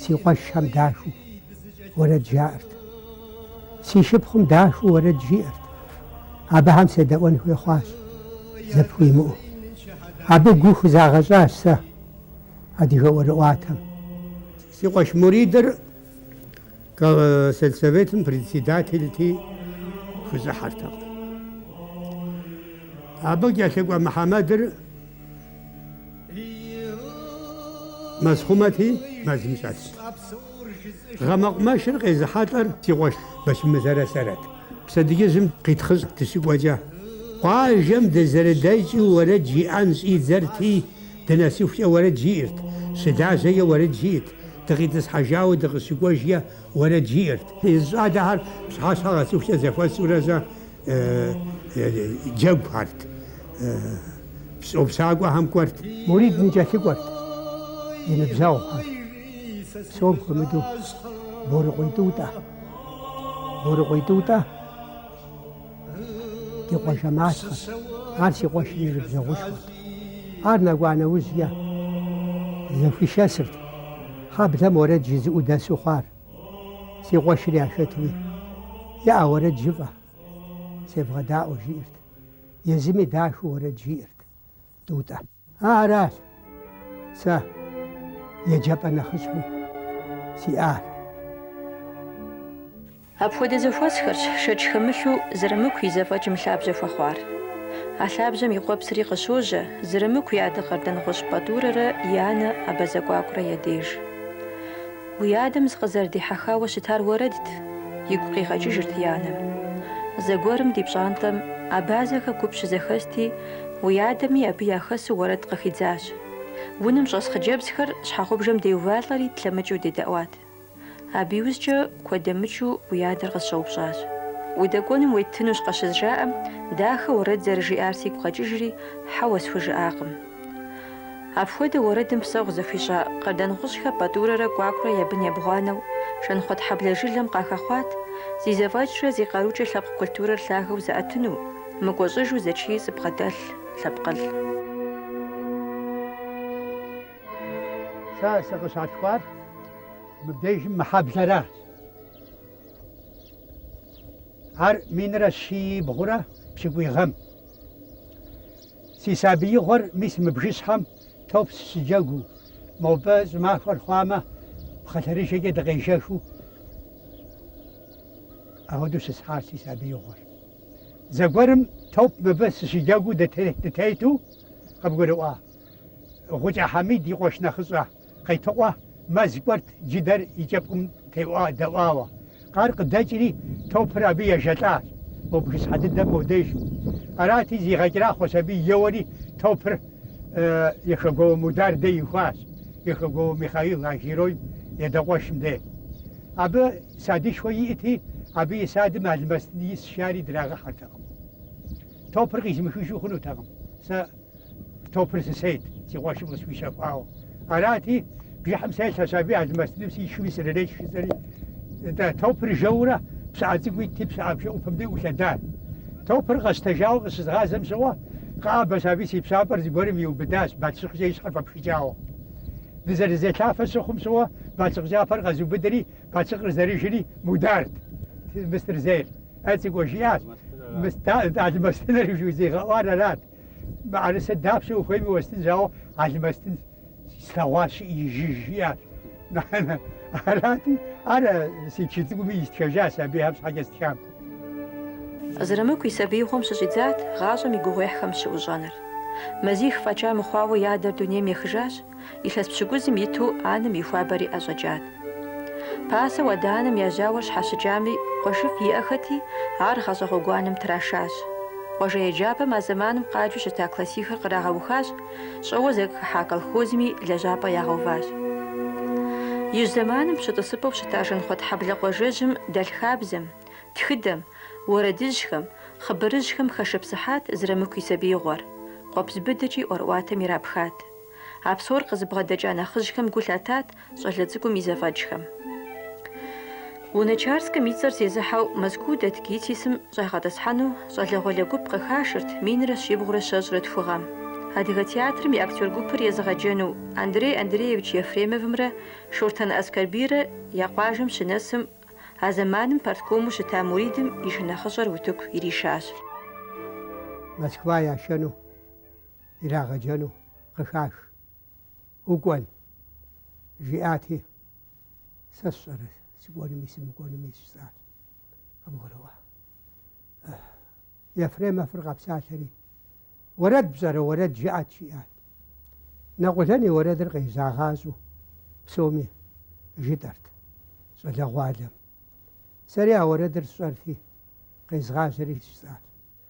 Си къуэшхэм дахэу уэрэд жаӏэрт. Си шыпхъум дахэу уэрэд жиӏэрт. Абыхэм седэӏуэн хуей хъуащ, зэпыу имыӏэу. Абы гу хузагъэщӏащ сэ адыгэ ӏуэрыӏуатэм. Си къуэш Муридыр сельсоветым председателти хущӏыхьэртэкъым. Абы кӏэлъыкӏуэ Мухьэмэдыр. Мэзхъумэти мэзым щӏэтт. Гъэмэкъумэшыр къезыхьэлӏэр си къуэш Бэчмырзэрэ сэрэт. Пщэдджыжьым къитхъыщӏ дыщыкӏуэкӏэ, къуажэм дызэрыдэкӏыу уэрэд жиӏэн щӏидзэрти, дынэсыхукӏэ уэрэд жиӏэрт, щылажьэкӏэ уэрэд жиӏэрт, дыкъитӏысхьэжауэ дыкъыщыкӏуэжкӏэ уэрэд жиӏэрт. Езы щӏалэхэр пщыхьэщхьэ къэсыхукӏэ зэхуэсурэзэ, джэгухэрт. Щӏопщакӏуэхэм кӏуэрт. Мурид ныкӏэлъыкӏуэрт и ныбжьэгъухэр. Псом хуэмыдэу Борыкъуей Тӏутӏэ. Борыкъуей Тӏутӏэ ди къуажэ малъхъэт. Ар си къуэшым и ныбжьэгъушхуэт. Ар нэкӏуа нэужькӏэ зэхуишэсырт хьэблэм уэрэд жызыӏэу дэсу хъуар. Си къуэшыр яшэрти, яӏэ уэрэд жыфӏэ, севгъэдаӏуэ, жиӏэрт. Езыми дахэу уэрэд жиӏэрт Тӏутӏэ. Аращ сэ еджапӏэ нэхъыщхьэу сиӏар. Апхуэдэ зэхуэсхэрщ шэч хэмылъу Зырамыку и зэфӏэкӏым лъабжьэ хуэхъуар. А лъабжьэм и къуэпсри къыщожьэ Зырамыку и адэ Къардэнгъущӏ Пӏатӏурэрэ и анэ Абазэ Кӏуакӏурэ я деж. Уи адэм сыкъызэрыдихьэхауэ щытар уэрэдт, игу къигъэкӏыжырт и анэм. Зэгуэрым ди пщӏантӏэм абазэхэ гуп щызэхэсти, уи адэми абы яхэсу уэрэд къыхидзащ. Унэм щӏэс хъыджэбзхэр щхьэгъубжэм деувалӏэри тлъэмыкӏыу дедэӏуат. Абы иужькӏэ куэд дэмыкӏыу уи адэр къысщӏэупщӏащ. Удэкӏуэнум уеттынущ къыщызжаӏэм, дахэу уэрэд зэрыжиӏар сигу къэкӏыжри, хьэуэ схужыӏакъым. Апхуэдэу уэрэдым псэгъу зэхуищӏа Къардэнгъущӏхэ Пӏатӏурэрэ Кӏуакӏурэ я бын ебгъуанэу Жанхъуэтхьэблэ жылэм къахэхъуат, зи зэфӏэкӏрэ зи къарукӏэ лъэпкъ культурэр лъагэу зыӏэтыну, мыкӏуэщӏыжу зэчий зыбгъэдэлъ лъэпкъылӏ. Сэ сыкъыщалъхуар мыбдежым мы хьэблэращ. Ар минрэ щибгъурэ пщыкӏуий гъэм. Си сабиигъуэр мис мы бжыщхьэм топ сыщыджэгуу. Мобы щӏымахуэр хъуамэ, пхъэлъэрыжэкӏэ дыкъежэхыу ахуэдэу щысхьащ си сабиигъуэр. Зэгуэрым топ мыбы сыщыджэгуу дытету къыбгурыӏуа Гъукӏэ Хьэмид и къуэш нэхъыщӏэ. Къетыкъуэ мэз кӏуэрт джыдэр и кӏэпкъым теӏуа-дэӏуауэ. Къар къыдэкӏри, топыр абы ежэлӏащ. Мо бгыщхьэ дыдэм мо деж. Арати, зигъэкӏэрахъуэщ аби еуэри топыр Яхэгуауэ Мудар де ихуащ, Яхэгуауэ Михаил а геройм и адэ къуэшым де. Абы садышхуэ иӏти, абы и садым алмэстын исщ жари драгъэхьэртэкъым. Топыр къизымыхыжу хъунутэкъым. Сэ. Топыр сысейт, си къуэшым къысхуищэхуауэ. Арати, бжыхьым селъэщ аби, алмэстыным сишхыми срырешх, жысӏэри, нтӏэ, топыр жэурэ пщыӏэ цӏыкӏу итти, пщыӏэ бжэӏупэм де ӏулъэдат. Топыр къэсщтэжауэ къыщызгъазэм щыгъуэ, къэӏэбэщ аби си пщампӏэр зыгуэрым иубыдащ, бащлъыкъкӏэ и щхьэр фӏэпхыкӏауэ. Дызэрызелъафэ щыхъум щыгъуэ, бащлъыкъ кӏапэр къэзубыдри, бащлъыкъыр зэрыжри, Мударт мыстыр зейр. Э, цӏыкӏуэ, жиӏащ, мыст, алмэстыныр жызигъэӏуар арат. Мыӏэрысэ дапщэ ухуейми уэстынщ, ауэ алмэстын слъэгъуащ жыӏи жэж, жиӏащ. Мыхьэнэ. Арати, ар си чы цӏыкӏуми истхэжащ, абыхэм щхьэкӏэ стхам. Зырамыку и сабиигъуэм щыщӏидзат гъащӏэм и гугъуехьхэм щыӏущӏэныр. Мазих фӏэкӏа мыхъуауэ и адэр дунейм ехыжащ, Илъэс пщыкӏузым иту анэм и хуабэри ӏэщӏэкӏат. Пасэу адэ-анэм я жьауэр щхьэщыкӏами, къуэшыфӏ иӏэхэти, ар гъащӏэ гъуэгуанэм трашащ. Къуажэ еджапӏэм а зэманым къаджу щыта классихыр кърагъэухащ, щӏэуэ зэхыхьа колхозми лэжьапӏэ ягъэуващ. Ижь зэманым пщы тӏысыпӏэу щыта Жанхъуэтхьэблэ къуажэжьым дэлъ хабзэм, тхыдэм, уэрэдыжьхэм, хъыбарыжьхэм хэшыпсыхьат Зырамыку и сабиигъуэр, къуэпс быдэкӏи ӏуэрыӏуатэм ирапхат. А псор къызыбгъэдэкӏа нэхъыжьхэм гу лъатат щӏалэ цӏыкӏум и зэфӏэкӏхэм. Луначарскым и цӏэр зезыхьэу Мэзкуу дэт ГИТИС-м щӏагъэтӏысхьэну щӏалэгъуалэ гуп къыхашырт минрэ щибгъурэ щэщӏрэ тху гъэм. Адыгэ театрым и актер гупыр езыгъэджэну Андрей Андреевич Ефремовымрэ Шортан Аскэрбийрэ я къуажэм щынэсым, а зэманым парткому щыта Муридым и шынэхъыщӏэр утыку иришащ. Москва яшэну. ирагъэджэну къыхаш. Укӏуэн? жиӏати, сэ сщӏэрэ сыкӏуэнуми сымыкӏуэнуми сщӏар? къыбгурыӏуа. Ефремовыр къэпсалъэри, Уэрэд пщӏэрэ, уэрэд жыӏэт, жиӏат. Нэкъулэн и уэрэдыр къежьагъащӏэу псоми жытӏэрт щӏалэгъуалэм. Сэри а уэрэдыр сщӏэрти, къезгъажьэри сщӏар.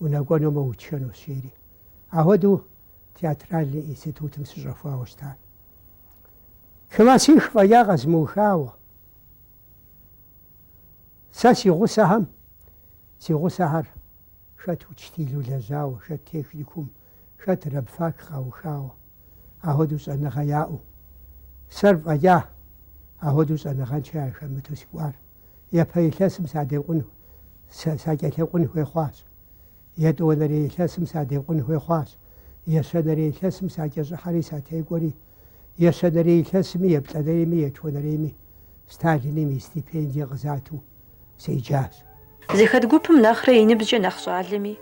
унэкӏуэнумэ утшэнущ, жери. Ахуэдэу театральный институтым сыщӏэхуауэ щыта. Классих фӏэкӏа къэзмыухауэ. Сэ си гъусэхэм, си гъусэхэр хэт учтилу лэжьауэ, хэт техникум Хэт рабфак къаухауэ, ахуэдэу щӏэныгъэ яӏэу? Сэр фӏэкӏа ахуэдэу щӏэныгъэншэ яхэмыту сыкӏуар? Япэ илъэсым садекъун, сакӏэлъэкъун хуей хъуащ. Етӏуанэрей илъэсым садекъун хуей хъуащ. Ещанэрей илъэсым сакӏэщӏыхьэри сатекӏуэри. Ещанэрей илъэсми, еплӏанэрейми, етхуанэрейми Сталиным и стипендие къызату седжащ. Зыхэт гупым нэхърэ и ныбжькӏэ нэхъ щӏалэми,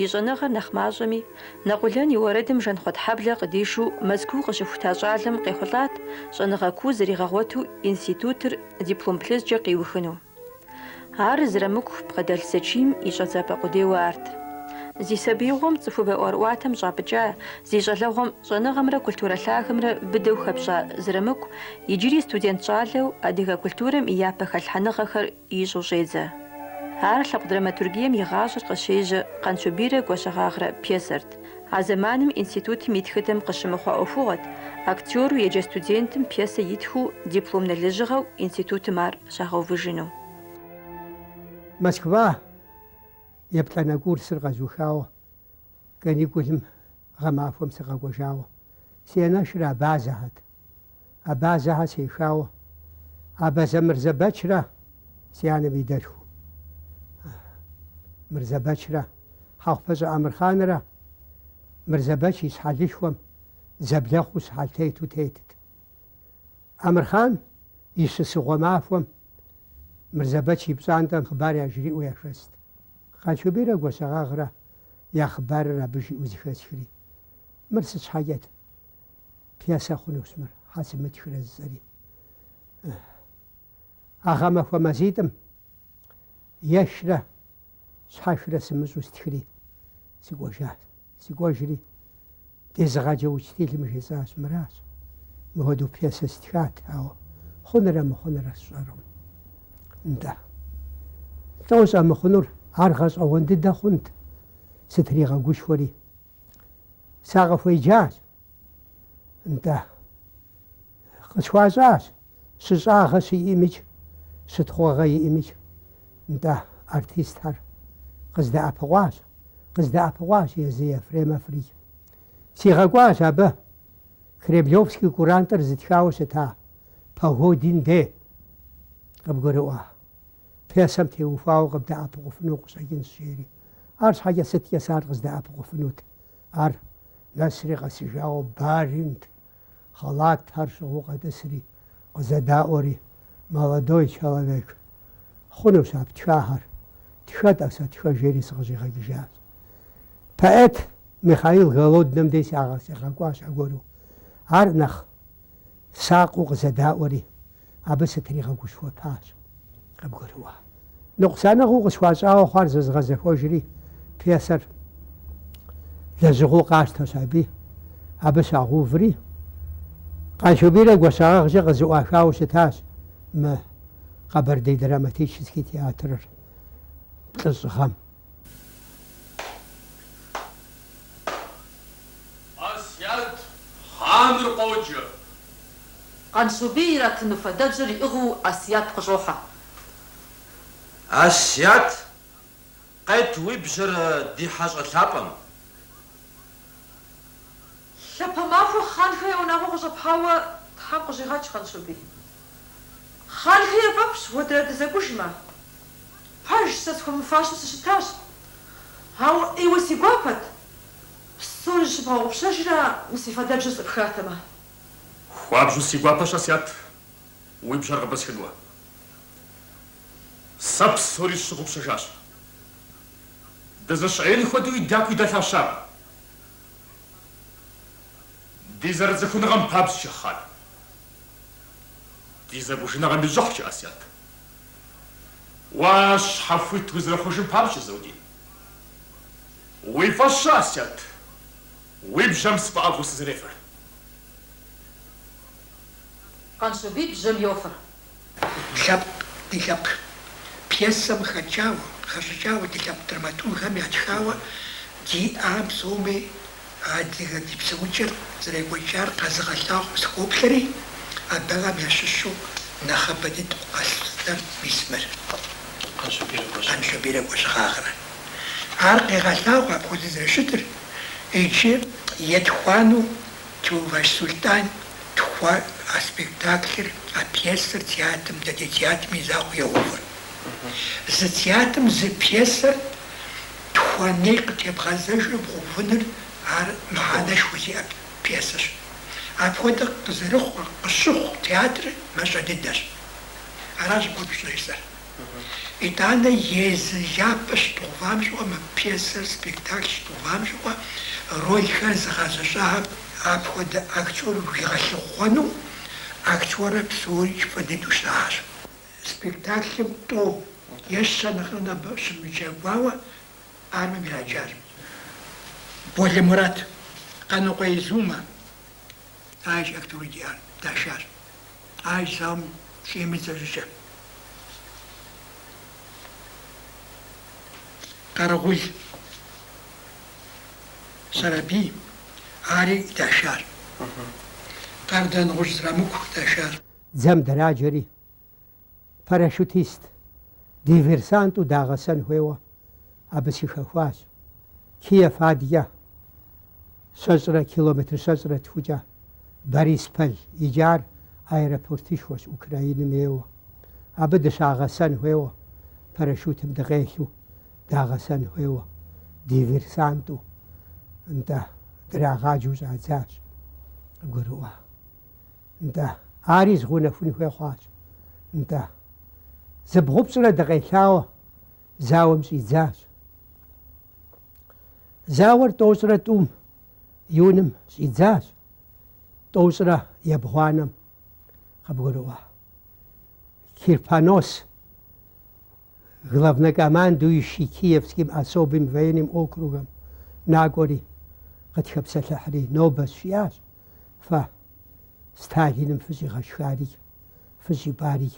и щӏэныгъэр нэхъ мащӏэми, Нэкъулэн и уэрэдым Жанхъуэтхьэблэ къыдишу Мэзкуу къыщыхута щӏалэм къехъулӏат щӏэныгъэ куу зэригъэгъуэту институтыр диплом плъыжькӏэ къиухыну. Ар Зырамыку бгъэдэлъ зэчийм и щӏэдзапӏэ къудейуэ арт. Зи сабиигъуэм цӏыхубэ ӏуэрыӏуатэм щӏапӏыкӏа, зи щӏалэгъуэм щӏэныгъэмрэ культурэ лъагэмрэ быдэу хэпщӏа Зырамыку Иджыри студент щӏалэу адыгэ культурэм и япэ хэлъхьэныгъэхэр ищӏу щӏедзэ. Ар лъэпкъ драматургием и гъащӏэр къыщежьэ Къанщобийрэ Гуащэгъагърэ пьесэрт, а зэманым институтым и тхыдэм къыщымыхъуа ӏуэхугъуэт, актеру еджэ студентым пьесэ итхыу дипломнэ лэжьыгъэу институтым ар щагъэувыжыну. Москва еплӏанэ курсыр къэзухауэ, каникулым гъэмахуэм сыкъэкӏуэжауэ, си анэшыр Абазэхьэт. Абазэхьэ сехауэ, Абазэ Мырзэбэчрэ си анэм и дэлъху Мырзэбэчрэ, Хьэхъупэщӏэ Амырхъанрэ Мырзэбэч и щхьэлышхуэм зэблэхъуу щхьэлтету тетт. Амырхъан и щысыгъуэ махуэм Мырзэбэч и пщӏантӏэм хъыбар яжриӏэу яхэст. Къанщобийрэ Гуащэгъагърэ я хъыбарыр абы жиӏэу зэхэсхри, Мыр сыт щхьэкӏэт? пьесэ хъунущ мыр, щхьэ сымытхрэ, жысӏэри. А гъэмахуэ мазитӏым ешрэ щхьэхрэ сымыщӏэу стхри, сыкӏуэжащ. Сыкӏуэжри, дезыгъэджэ учтилым жесӏащ, Мыращ, мыхуэдэу пьесэ стхат, ауэ хъунрэ мыхъунрэ сщӏэркъым. Нтӏэ. Лӏо щӏэмыхъунур, ар гъэщӏэгъуэн дыдэ хъунт, сытригъэгушхуэри. сакъыхуеджащ, нтӏэ, къысхуащӏащ щыщӏагъэ щиӏэмикӏ, щытхъуэгъэ иӏэмикӏ, нтӏэ, артистхэр къыздэӏэпыкъуащ, къыздэӏэпыкъуащ езы Ефремоврикӏ. Сигъэкӏуащ абы Кремлевский курантыр зытхауэ щыта Погодин дей, къыбгурыӏуа. Пьесэм теухуауэ къыбдэӏэпыкъуфыну къыщӏэкӏынщ жери. Арщхьэкӏэ сыткӏэ сэ ар къыздэӏэпыкъуфынут? Ар нэсри къэсыжауэ баринт, халатхэр щыгъыу къэтӏысри, къызэдаӏуэри, Молодой человек, хъунущ а птхахэр, тхэ-тӏэ сэ, тхэ, жери сыкъыщӏигъэкӏыжащ. Поэт Михаил Голодным дей сигъэкӏуащ аргуэру. Ар нэхъ сакъыу къызэдаӏуэри. абы сытригъэгушхуэпащ къыбгурыӏуа. Ныкъусаныгъэу къысхуащӏауэ хъуар зэзгъэзэхуэжри, пьесэр лэжьыгъэу къащтэщ аби, абы щагъэуври, Къанщобийрэ Гуащэгъагъкӏэ къызыӏуахауэ щытащ мы Къэбэрдей драматический театрыр плӏыщӏ гъэм. Асият хъаныр къоджэ. Къанщобий иратыну фадэбжьэр иӏыгъыу Асият къыщӏохьэ. Асият, къет уи бжьэр ди хьэщӏэ лъапӏэм. Лъэпэ махуэ хъанхэ я унагъуэ къыщӏэпхьауэ Тхьэм къыщӏигъэкӏ, Къанщобий. Хъанхэ яфӏэфӏщ уэ дэрэ дызэкӏужмэ. Пэжщ, сэ схуэмыфащэу сыщытащ. Ауэ ӏейуэ си гуапэт. Псори зыщыбгъэгъупщэжрэ мы си фадэбжьэр сӏыпхатэмэ? Хуабжьу си гуапэщ, Асият, уи бжьэр къыпӏысхыну. Сэ псори сщыгъупщэжащ. Дызэщыӏеин хуэдэуи дякуи дэлъа щыӏэкъым. Ди зэрыцӏыхуныгъэм папщӏэкӏэ, хъан. Ди зэкӏужыныгъэм и щӏыхькӏэ, Асият. Уэ щхьэхуит узэрыхъужым папщӏэ, Заудин. Уи фӏэщ щӏы, Асият, уи бжьэм сфӏэӏэфӏу сызэрефэр. Къанщобий бжьэм йофэр. Лъэпкъ ди лъэпкъ пьесэм хэкӏауэ, хэщӏыкӏауэ ди лъэпкъ драматургхэм ятхауэ диӏа псоми адыгэ ди псэукӏэр зэрекӏуэкӏар къэзыгъэлъагъуэу сыхоплъэри, абыхэм ящыщу нэхъыбэ дыдэу къэслъытэр мис мыр. Къанщобийрэ Гуащэгъагърэ. Ар къегъэлъагъуэ апхуэдэ зэрыщытыр иджы етхуанэу. Теувэж Сулътӏан тхуэ а спектаклыр, а пьесэр театрым, дэдей театрым и закъуэ игъэувар. Зы театрым зы пьесэр тхуэней къытебгъэзэжу бгъэувыныр ар мыхьэнэшхуэ зиӏэ пьесэщ. Апхуэдэ къызэрыхъур, къыщыхъу театрыр мащӏэ дыдэщ. Аращ гугъу щӏезыр. Итӏанэ езы япэ щыдгъэувам щыгъуэ мы пьесэр, спектакль щыдгъэувам щыгъуэ рольхэр зыгъэзэщӏахэм апхуэдэ актёр уигъэлъыхъуэну актёрыр псорикӏ фӏы дыдэу щытащ. Спектаклым тӏу е щэ нэхърэ нэхъыбэ щымыджэгуауэ армэм ираджащ Болэ Мурат, Къанокъуей Зумэ. Аращ актёри диӏар, дашащ. А зауэм щӏимыдзэ щӏыкӏэ, Къэрэгъул Сэрэбий ари дашар, Къардэнгъущӏ Зырамыку дашар. Дзэм драджэри, парашютист, диверсанту дагъэсэн хуейуэ абы сыхэхуащ. Киев адкӏэ щэщӏрэ километр щэщӏрэ тхукӏэ Борисполь иджар аэропортышхуэщ Украиным ейуэ. Абы дыщагъэсэн хуейуэ, парашютым дыкъелъу дагъэсэн хуейуэ, диверсанту, нтӏэ, драгъаджэу щӏадзащ, къыбгурыӏуа, нтӏэ, ари згъэунэхун хуей хъуащ, нтӏэ, зыбгъупщӏрэ дыкъелъауэ. зауэм щӏидзащ. Зауэр тӏощӏрэ тӏум июным щӏидзащ, тӏощӏрэ ебгъуанэм къыбгурыӏуа Кирпонос главнокомандующий Киевским особым военным округым накӏуэри, къытхэпсэлъыхьри нобэщ жиӏащ, Фэ Сталиным фыщӏигъэшхари, фыщӏипӏари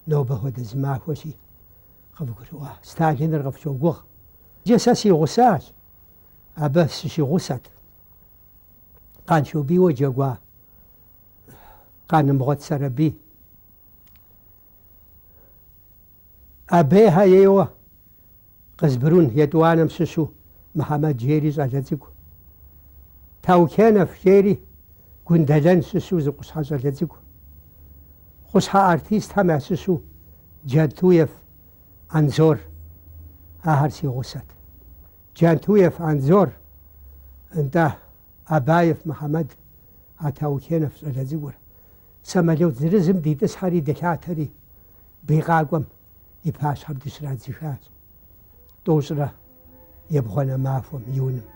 Нобэ хуэдэ зы махуэщ, жи, къывгурыӏуа Сталиныр къыфщогугъ. Иджы сэ си гъусащ, абы сыщигъусэт. Къанщобийуэ джэгуа Къанымгъуэт Сэрэбий. Абейхэ ейуэ Къызбрун етӏуанэм щыщу Мыхьэмэд жери щӏалэ цӏыкӏу. Таукенов жери Гундэлэн щыщу зы къущхьэ щӏалэ цӏыкӏу. Къущхьэ артистхэм ящыщу Джантуев Анзор. Ахэр си гъусэт. Джантуев Анзор, нтӏэ, Абаев Мыхьэмэд, а Таукенов щӏалэ цӏыкӏур. Самолет зырызым дитӏысхьэри дылъатэри бий къакӏуэм. и пащхьэм дыщрадзыхащ тӏощӏрэ ебгъуанэ махуэм, июным.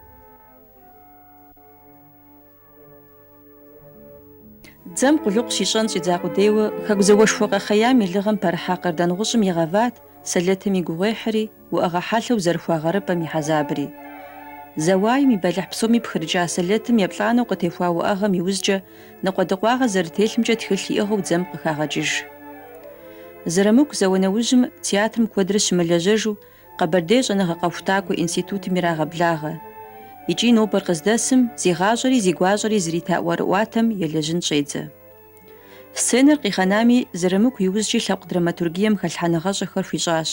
Дзэм къулыкъу щищӏэн щӏидза къудейуэ Хэку зауэшхуэ къэхъеям и лыгъэм пэрыхьа Къардэнгъущӏым игъэват, сэлэтым и гугъуехьри, уӏэгъэ хьэлъэу зэрихуа гъэрыпӏэм и хьэзабри. Зауаем и бэлыхь псоми пхырыкӏа сэлэтым еплӏанэу къытехуа уӏэгъэм иужькӏэ ныкъуэдыкъуагъэ зэрытелъымкӏэ тхылъ иӏыгъыу дзэм къыхагъэкӏыж. Зырамыку зауэ нэужьым театрым куэдрэ щымылэжьэжу Къэбэрдей щӏэныгъэ-къэхутакӏуэ институтым ирагъэблагъэ. Икӏи нобэр къыздэсым зи гъащӏэри зи гуащӏэри зрита ӏуэрыӏуатэм елэжьын щӏедзэ. Сценэр къигъэнами, Зырамыку иужькӏи лъэпкъ драматургием хэлъхьэныгъэщӏэхэр хуищӏащ.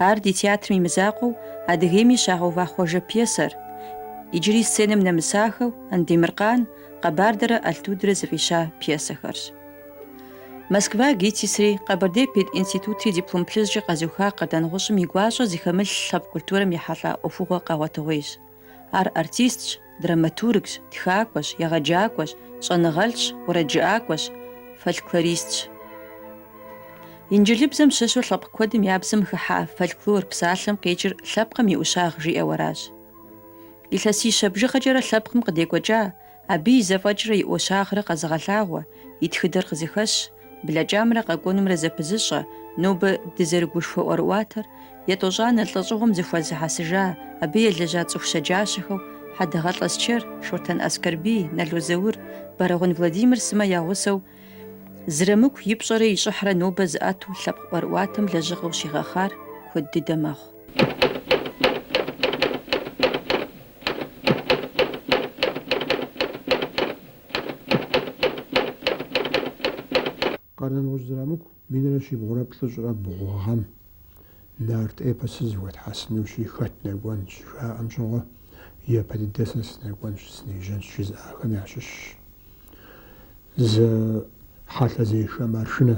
Ар ди театрым и мызакъуэу Адыгейми щагъэува Хъуэжэ пьесэр. Иджыри сценэм нэмысахэу Андемыркъан, Къэбардэрэ Алтудрэ зыфӏища пьесэхэрщ. Москва ГИТИС-ри, Къэбэрдей пединститутри диплом плъыжькӏэ къэзыуха Къардэнгъущӏым и гуащӏэ зыхэмылъ лъэпкъ культурэм ехьэлӏа ӏуэхугъуэ къэгъуэтыгъуейщ. Ар артистщ, драматургщ, тхакӏуэщ, егъэджакӏуэщ, щӏэныгъэлӏщ, уэрэджыӏакӏуэщ, фольклористщ. Инджылызыбзэм щыщу лъэпкъ куэдым я бзэм хыхьа фольклор псалъэм къикӏыр лъэпкъым и ӏущагъ жиӏэу аращ. Илъэсищэ бжыгъэкӏэрэ лъэпкъым къыдекӏуэкӏа, Абы и зэфӏэкӏрэ и ӏущагърэ къэзыгъэлъагъуэ, и тхыдэр къызыхэщ, блэкӏамрэ къэкӏуэнумрэ зэпызыщӏэ, нобэ дызэрыгушхуэ ӏуэрыӏуатэр, етӏощӏанэ лӏэщӏыгъуэм зэхуэзыхьэсыжа, абы елэжьа цӏыху щэджащэхэу, Хьэдэгъэлӏэ Аскэр, Шортэн Аскэрбий, Нало Заур, Бэрэгъун Владимир сымэ я гъусэу Зырамыку и пщӏэрэ и щӏыхьрэ нобэ зыӏэту лъэпкъ ӏуэрыӏуатэм лэжьыгъэу щигъэхъар куэд дыдэ мэхъу. Къардэнгъущӏ Зырамыку минрэ щибгъурэ плӏыщӏрэ бгъу гъэм нарт эпосыр зэхуэтхьэсынущи хэт нэкӏуэн щыжаӏэм щыгъуэ, япэ дыдэ сэ сынэкӏуэнщ, сынежьэнщ жызыӏахэм ящыщщ. Зы хьэлъэзешэ маршынэ.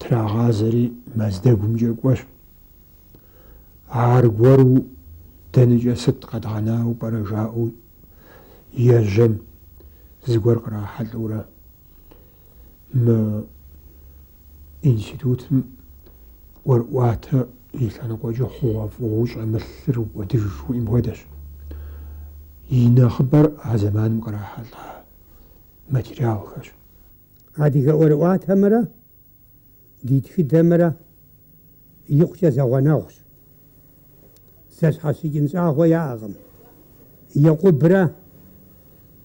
Трагъазэри Мэздэгумкӏэ кӏуэщ. Аргуэру дэнэкӏэ сыт къэдгъэнауэ пӏэрэ жаӏэу ежьэм зыгуэр кърахьэлӏэурэ мы институтым ӏуэрыӏуатэ и лъэныкъуэкӏэ хъугъуэфӏыгъуэу щӏэмылъыр укӏуэдыж жыхуиӏэм хуэдэщ. И нэхъыбэр а зэманым кърахьэлӏа материалхэщ. Адыгэ ӏуэрыӏуатэмрэ ди тхыдэмрэ икъукӏэ зэгъуэнэгъущ. Зэщхьэщыкӏын щӏагъуэ яӏэкъым. Екъубрэ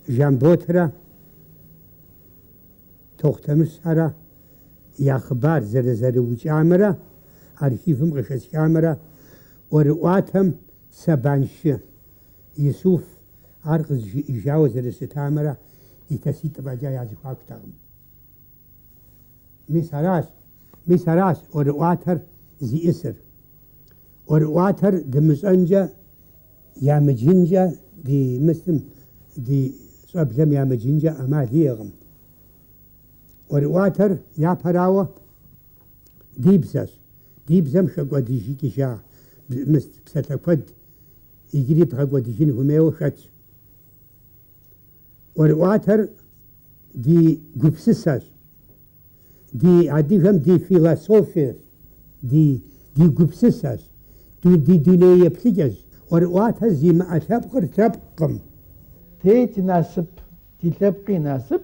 Жамботрэ Тохъутэмыщхьэрэ я хъыбар зэрызэрыукӏамрэ архивым къыхэсхамрэ ӏуэрыӏуатэм Сэбаншы Исуф ар къызжиӏэжауэ зэрыщытамрэ илъэситӏ фӏэкӏа я зэхуакутэкъым. Мис аращ, мис аращ ӏуэрыӏуатэр зиӏысыр. ӏуэрыӏуатэр дымыщӏэнкӏэ, ямыджынкӏэ ди мысым, ди щӏэблэм ямыджынкӏэ ӏэмал иӏэкъым. ӏуэрыӏуатэр япэрауэ ди бзэщ. Ди бзэм хэкӏуэдыжыкӏыжа псалъэ куэд иджыри бгъэкӏуэдыжын хуэмейуэ хэтщ. ӏуэрыӏуатэр ди гупсысэщ, ди адыгэм ди философиещ, ди ди гупсысэщ, ду ди дуней еплъыкӏэщ. ӏуэрыӏуатэ зимыӏэ лъэпкъыр лъэпкъкъым. Тэ тинасып, тилъэпкъи инасып.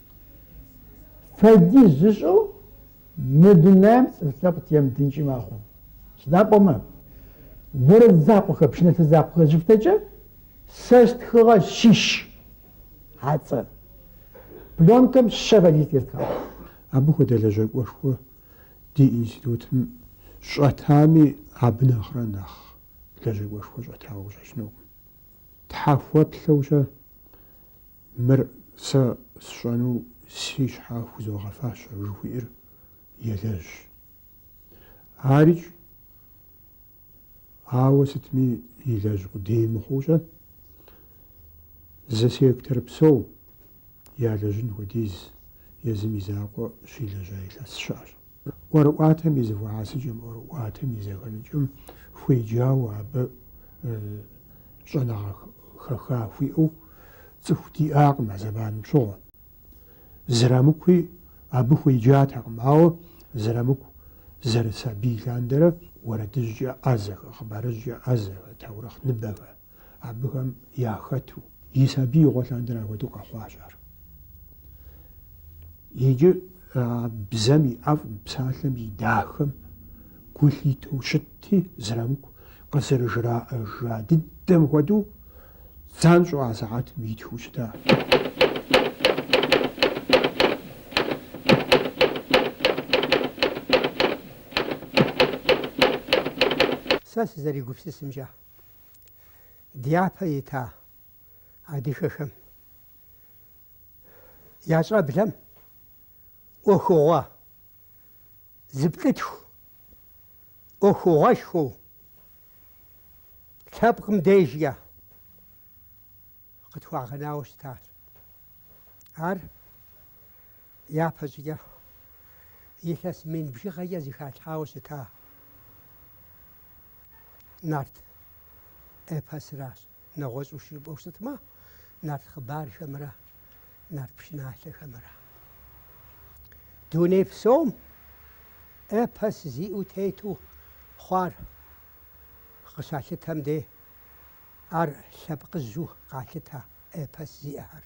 Фэдиз зышӏэу мы дунаем цӏыф лъэпкъ темытынкӏи мэхъу. Сыда пӏомэ, орэд закъохэр, пщынэлъэ закъохэр зыфтэкӏэ сэ стхыгъэ щищ ацӏэ. Пленкэм щэ фэдиз тестхагъ. Абы хуэдэ лэжьакӏуэшхуэ ди институтым щӏэтами, абы нэхърэ нэхъ лэжьакӏуэшхуэ щӏэтауэ къыщӏэкӏынукъым. Тхьэхуэплъэукӏэ Мыр сэ сщӏэну си щхьэ хузогъэфащэ жыхуиӏэр елэжь. Арикӏ, ауэ сытми илэжь къудей мыхъуукӏэ, зы сектор псо ялэжьын хуэдиз езым и закъуэ щилэжьа илъэс щыӏэщ. ӏуэрыӏуатэм и зэхуэхьэсыкӏэм, ӏуэрыӏуатэм и зэхэныкӏэм хуеджауэ абы щӏэныгъэ хэха хуиӏэу цӏыху диӏакъым а зэманым щыгъуэ. Зырамыкуи абы хуеджатэкъым, ауэ Зырамыку зэрысабий лъандэрэ уэрэдыжькӏэ ӏэзэхэ, хъыбарыжькӏэ ӏэзэхэ, таурыхъ ныбэхэ абыхэм яхэту и сабиигъуэ лъандэрэ апхуэдэу къэхъуащ ар. Иджы а бзэм и ӏэфӏым, псалъэм и дахэм гу лъитэу щытти, Зырамыку къызэрыжраӏэжа дыдэм хуэдэу, занщӏэу а сыхьэтым итхыу щытащ. Сэ сызэригупсысымкӏэ, дяпэ ита адыгэхэм я щӏэблэм ӏуэхугъуэ зыплӏытху, ӏуэхугъуэшхуэу лъэпкъым дежкӏэ къытхуагъэнауэ щытащ. Ар япэщӏыкӏэ илъэс мин бжыгъэкӏэ зыхалъхьауэ щыта нарт эпосращ. Нэгъуэщӏу жыпӏэу щытмэ, нарт хъыбархэмрэ нарт пшыналъэхэмрэ. Дуней псом эпос зиӏэу тету хъуар къыщалъытэм де ар лъэпкъыжьу къалъытэ эпос зиӏэхэр.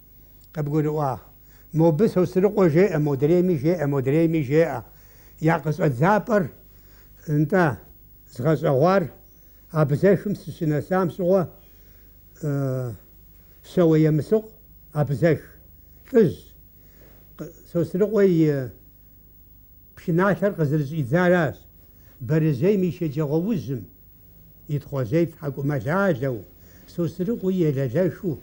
Къыбгурыӏуа? Мобы Сосрыкъуэ жеӏэ, модрейми жеӏэ, модрейми жеӏэ. Я къыщӏэдзапӏэр нтӏэ згъэщӏэгъуар абэзэхым сыщынэсам щыгъуэ Щэуэ Емысыкъу абэзэх лӏыжь. Сосрыкъуэ и пшыналъэр къызэрыщӏидзаращ Бэрэжьейм и шэджагъуэ ужьым. и тхъуэжьей тхьэкӏумэлалэу, Сосрыкъуи елэлэхыу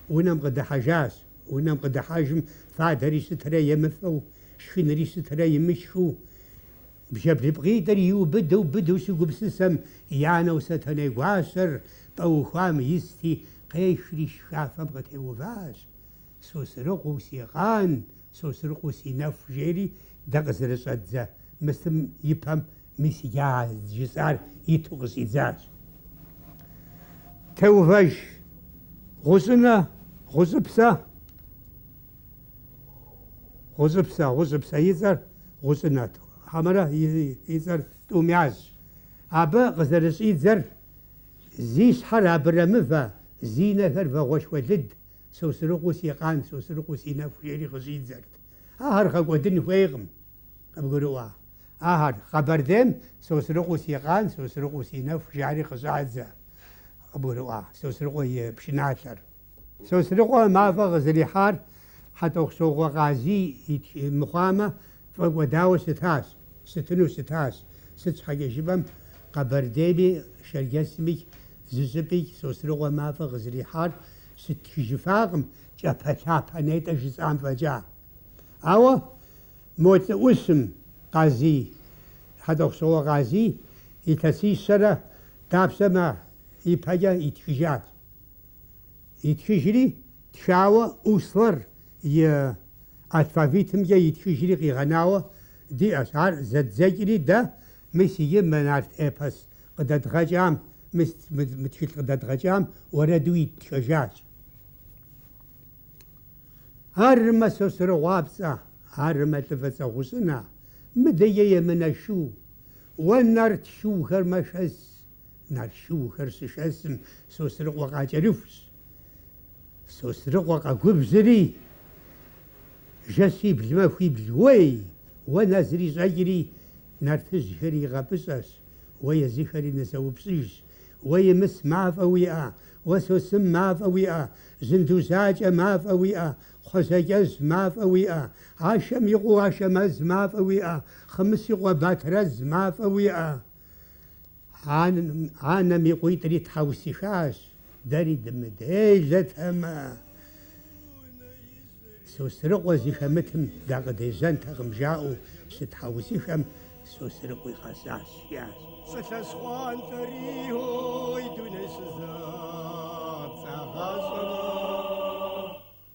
унэм къыдыхьэжащ. Унэм къыдыхьэжым фадэри щытырэ емыфэу, шхынри щытырэ имышхыу, бжэблыпкъитӏыр иубыду быдэу щыгупсысэм, и анэу Сэтэней гуащэр пӏэ ухуам исти, къехри жыхафэм къытеуващ. Сосрыкъу си къан, Сосрыкъу си нэху жери дэ къызэрыщӏэддзэ мысым и пэм мис а жысӏар иту къыщӏидзащ. Теувэж, гъущӏынэ, гъущӏыпсэ, гъущӏыпсэ, гъущӏыпсэ и цӏэр гъущӏынэ, хьэмэрэ и цӏэр тӏумяжьщ. Абы къызэрыщӏидзэр, зи щхьэр абрэмывэ, зи нэхэр вагъуэшхуэ лыд, Сосрыкъуэ си къан, Сосрыкъуэ си нэху, жери къыщӏидзэрт. Ахэр гъэкӏуэдын хуейкъым, къыбгурыӏуа? Ахэр, Къэбэрдейм, Сосрыкъуэ си къан, Сосрыкъуэ си нэху, жари къыщӏадзэ, къыбгурыӏуа? Сосрыкъуэ и пшыналъэр. Сосрыкъуэ мафӏэ къызэрихьар Хьэтӏохъущокъуэ Къазий мыхъуамэ, фӏэкӏуэдауэ щытащ, щытыну щытащ, сыт щхьэкӏэ жыпӏэм, Къэбэрдейми, Шэрджэсми, зыщӏыпӏи Сосрыкъуэ мафӏэ къызэрихьар щыттхыжыфакъым кӏапэлъапэ нетӏэ жысӏам фӏэкӏа. Ауэ мо лӏыӏущым Къазий, Хьэтӏохъущыкъуэ Къазий илъэсищэрэ дапщэмэ ипэкӏэ итхыжащ. Итхыжри, тхауэ Услар и алфавитымкӏэ итхыжри къигъэнауэ диӏэщ. Ар зэддзэкӏри дэ, мис иджы мы нарт эпос Къыдэдгъэкӏам, мы мы тхылъ къыдэдгъэкӏам уэрэду иттхэжащ. Армэ Сосрыкъуапцӏэ, армэ лӏы фӏыцӏэ гъущӏынэ, мыдэ емынэ шу, уэ нарт шуухэр мэшэс, нарт шуухэр щышэсым, Сосрыкъуэ къакӏэрыхущ. Сосрыкъуэ къэгубжьри, жэщибл махуибл уей, уэ нызэрищӏэкӏри, нартыжьхэр игъэпӏыщӏэщ. Уэ езыхэри нызэупщӏыжщ. Уэ Имыс мафӏэ уиӏэ? Уэ Сосым мафӏэ уиӏэ? Жьындужьакӏэ мафӏэ уиӏэ? Кхъужьэкӏэжь мафӏэ уиӏэ? Ашэм и къуэ Ашэмэз мафӏэ уиӏэ? Хъымыщ и къуэ Батрэз мафӏэ уиӏэ? Анэм и къуитӏри тхьэусыхащ. Дэри дымыделэтэмэ, Сосрыкъуэ зыхэмытым дакъыдежьэнтэкъым, жаӏэу щытхьэусыхэм Сосрыкъуи къэсащ. Я сылъэс хъуантӏэри, ой, дуней щызэпцӏагъащӏэмэ.